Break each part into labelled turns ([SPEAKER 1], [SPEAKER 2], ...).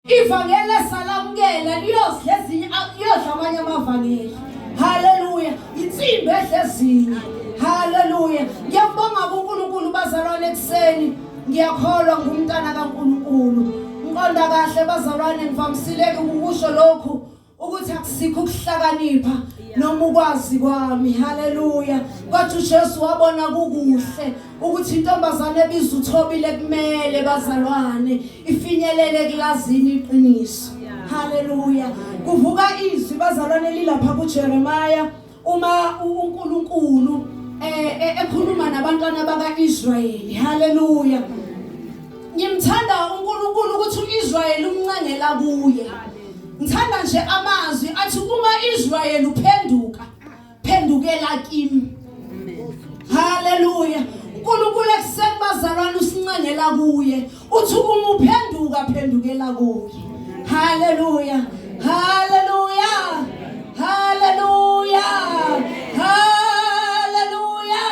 [SPEAKER 1] Ivangeli esalamukela liyozidla ezinye liyodla amanye amavangeli. Haleluya. Insimbi edla ezinye. Haleluya. Ngiyabonga kuNkulunkulu bazalwane ekseni. Ngiyakholwa ngumntana kaNkulunkulu. Ngiqonda kahle bazalwane ngivamisileke ukusho lokhu. ukuthi akusikho ukuhlakanipha noma ukwazi kwami haleluya kwathi uJesu wabona kukuhle ukuthi intombazane ebiza uthobile kumele bazalwane ifinyelele kulazini iqiniso haleluya kuvuka izwi bazalwane lilapha kuJeremiah Uma uNkulunkulu eh, eh, ekhuluma nabantwana bakaIsrayeli, haleluya. Ngimthanda uNkulunkulu ukuthi uIsrayeli umncengela kuye. Ngithanda nje amazwi athi uma Israyeli uphenduka, phendukela kimi. Haleluya. uNkulunkulu ekuseni bazalwane usincengela kuye uthi uma uphenduka phendukela kuye haleluya haleluya haleluya haleluya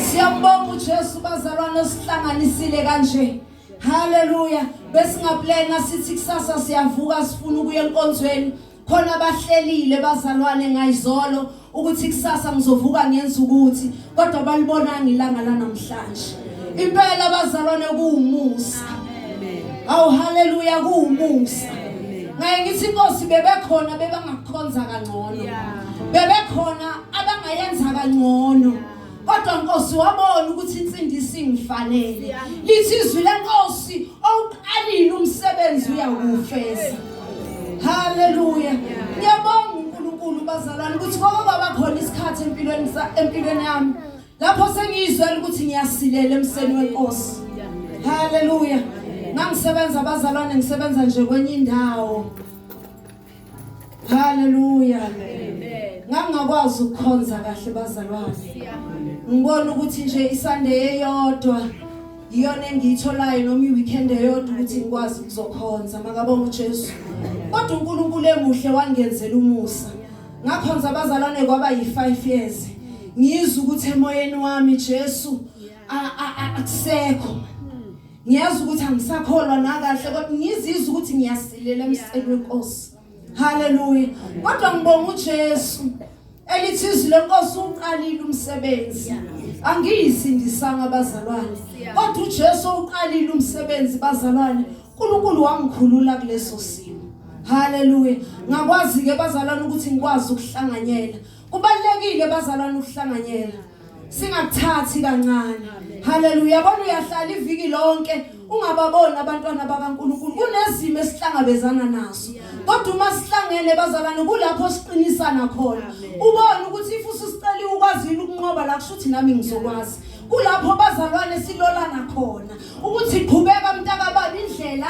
[SPEAKER 1] siyambonga uJesu bazalwane sihlanganisile kanje haleluya besingaplena sithi kusasa siyavuka sifuna ukuya enkonzweni khona abahlelile bazalwane ngayizolo ukuthi kusasa ngizovuka ngenza ukuthi kodwa balibonanga ilanga lanamhlanje impela abazalwane kuwumusa awu haleluya kuwumusa ngaye ngithi inkosi bebekhona bebangakukhonza kangcono bebekhona abangayenza kangcono kodwa nkosi wabona ukuthi insindiso ingifanele lithi izwi lenkosi Awuqalile umsebenzi uyakufeza. Haleluya. Ngiyabonga uNkulunkulu bazalwane ukuthi kwaba baba khona isikhathi empilweni empilweni yami. Lapho sengiyizwela ukuthi ngiyasilela emseni wenkosi. Haleluya. Ngangisebenza abazalwane ngisebenza nje kwenye indawo. Haleluya. Ngangakwazi ukukhonza kahle bazalwane. Ngibona ukuthi nje isande eyodwa iyona engiyitholayo noma iweekend eyodwa ukuthi ngikwazi ukuzokhonza makabonga uJesu. Kodwa uNkulunkulu emuhle wangenzela umusa. Ngakhonza abazalwane kwaba yi5 years. Ngizwe ukuthi emoyeni wami Jesu akusekho. ngiyazi ukuthi angisakholwa nakahle kodwa ngizizwa ukuthi ngiyasilela emseni wenkosi haleluya kodwa ngibonga uJesu elithi izwi lenkosi uqalile umsebenzi angiyisindisanga abazalwane kodwa uJesu uqalile umsebenzi bazalwane uNkulunkulu wangikhulula kuleso simo haleluya ngakwazi ke bazalwane ukuthi ngikwazi ukuhlanganyela kubalekile bazalwane ukuhlanganyela singakuthathi kancane haleluya yabona uyahlala iviki lonke ungababoni abantwana bakaNkuluNkulu kunezimo esihlangabezana nazo kodwa uma sihlangene bazalwane kulapho siqinisana khona ubone ukuthi if usicela ukwazile ukunqoba la kusho ukuthi nami ngizokwazi kulapho bazalwane silolana khona ukuthi qhubeka mntakababa indlela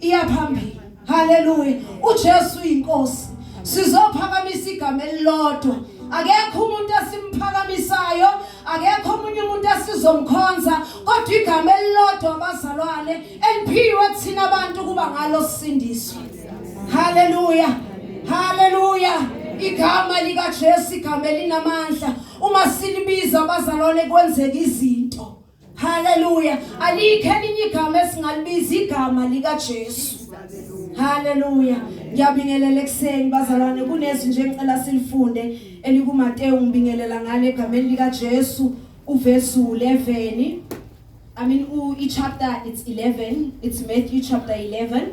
[SPEAKER 1] iyaphambili haleluya uJesu uyinkosi sizophakamisa igama elilodwa akekho umuntu esimphakamisayo akekho omunye umuntu esizomkhonza kodwa igama elilodwa abazalwane eliphiwe thina abantu kuba ngalo sisindiswe haleluya haleluya igama likaJesu igama elinamandla uma silibiza abazalwane kwenzeka izinto Haleluya. Alikho elinye igama esingalibiza igama lika Jesu. Haleluya. Ngiyabingelela ekseni bazalwane kunezwi nje ngicela silifunde elikuMateyu ngibingelela ngale egameni lika Jesu uverse 11. I mean u i chapter it's 11. It's Matthew chapter 11.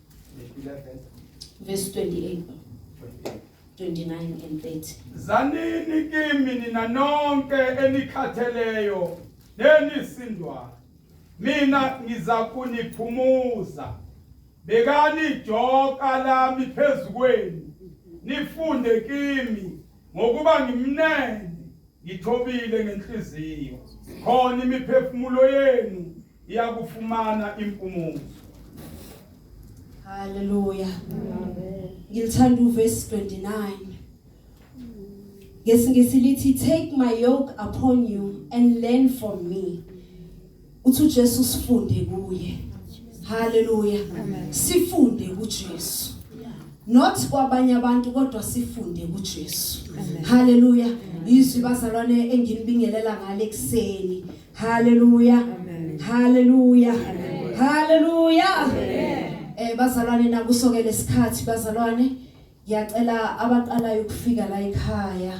[SPEAKER 1] verse 28 29 and 30 zanini
[SPEAKER 2] kimi nina nonke enikhatheleyo nenisindwayo mina ngiza kuniphumuza bekani ijoka lami phezu kwenu nifunde kimi ngokuba ngimnene ngithobile ngenhliziyo khona imiphefumulo yenu iyakufumana impumuzo
[SPEAKER 1] haleluya ngilithanda uverse 29 ngesingisi lithi take my yoke upon you and learn from me uthi uJesu sifunde kuye haleluya sifunde kuJesu not kwabanye abantu kodwa sifunde kuJesu haleluya izwi bazalwane enginibingelela ngale kuseni Hallelujah. Amen. Hallelujah. Amen. Hallelujah. Amen. Eh bazalwane nakusokele isikhathi bazalwane ngiyacela abaqalayo ukufika la ekhaya